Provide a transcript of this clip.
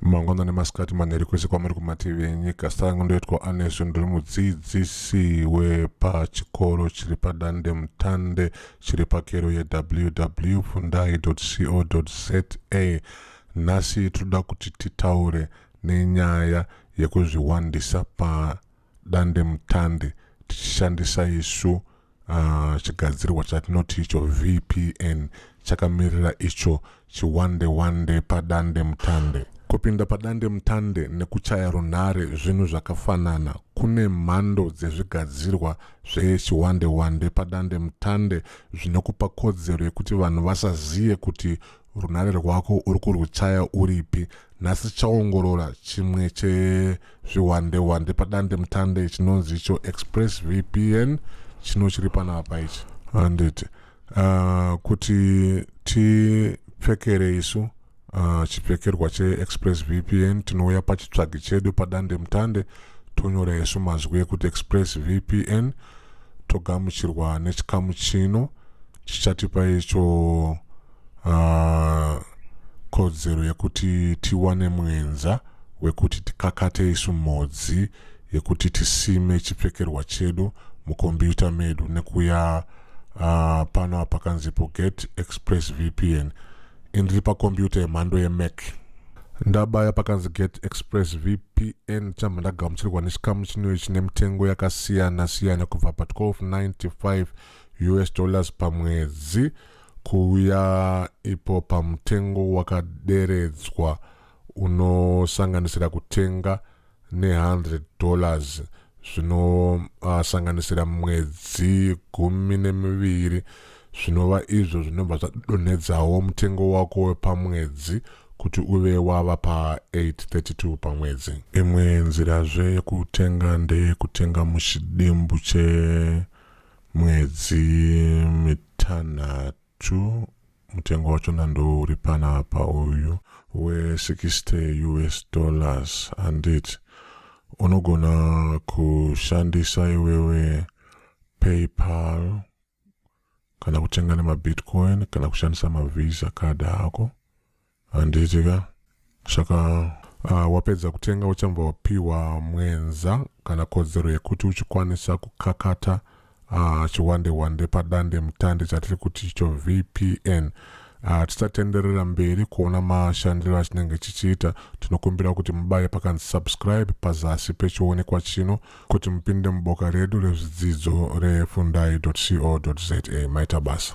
mangwanani masikati manheri kwese kwamuri kumativi enyika sangu ndoitwa anesu ndiri mudzidzisi wepachikoro chiri padande mutande chiri pakero yeww fundai co za nhasi tinoda kuti titaure nenyaya yekuzviwandisa padandemutande tichishandisa isu uh, chigadzirwa chatinoti icho vpn chakamirira icho chiwande wande padande mutande kupinda padande mutande nekuchaya runhare zvinhu zvakafanana kune mhando dzezvigadzirwa zvechiwande wande padande mutande zvinokupa kodzero yekuti vanhu vasazive kuti runhare rwako uri kurwuchaya uripi nhasi tichaongorora chimwe chezvihwandehwande padande mutande chinonzi icho express vpn chino chiri panapa ichi handiti uh, kuti tipfekere isu uh, chipfekerwa cheexpress vpn tinouya pachitsvagi chedu padande mutande tonyora isu mazwi ekuti express vpn togamuchirwa nechikamu chino chichatipa icho uh, kodzero yekuti tiwane mwenza wekuti tikakate isu modzi yekuti tisime chipfekerwa chedu mukombiyuta medu nekuya uh, pano apa kanzipo get express vpn indiri pakombiyuta yemhando yemac ndabaya pakanzi get express vpn chamba ndagamuchirwa nechikamu chinoyo chine mitengo yakasiyana siyana kubva pa 1295 us dollars pamwedzi Kuuya ipo pamutengo wakaderedzwa unosanganisira kutenga ne 100 dollars zvinosanganisira uh, mwedzi gumi nemiviri zvinova izvo zvinobva zvadonhedzawo mutengo wako wepamwedzi kuti uve wava pa832 pamwedzi imwe nzirazve yekutenga ndeyekutenga muchidimbu che mwedzi mitanhatu mutengo wachona ndo uri panapa uyu we60 us dollars handiti unogona kushandisa iwewe paypal kana kutenga nemabitcoin kana kushandisa mavisa card ako Handiti ka saka uh, wapedza kutenga uchambva wapiwa mwenza kana kodzero yekuti uchikwanisa kukakata uh, chiwande wande padande mutande chatiri kuti icho vpn uh, tisatenderera mberi kuona mashandiro achinenge chichiita tinokumbira kuti mubaye pakanzi subscribe pazasi pechionekwa chino kuti mupinde muboka redu rezvidzidzo refundai co za maita basa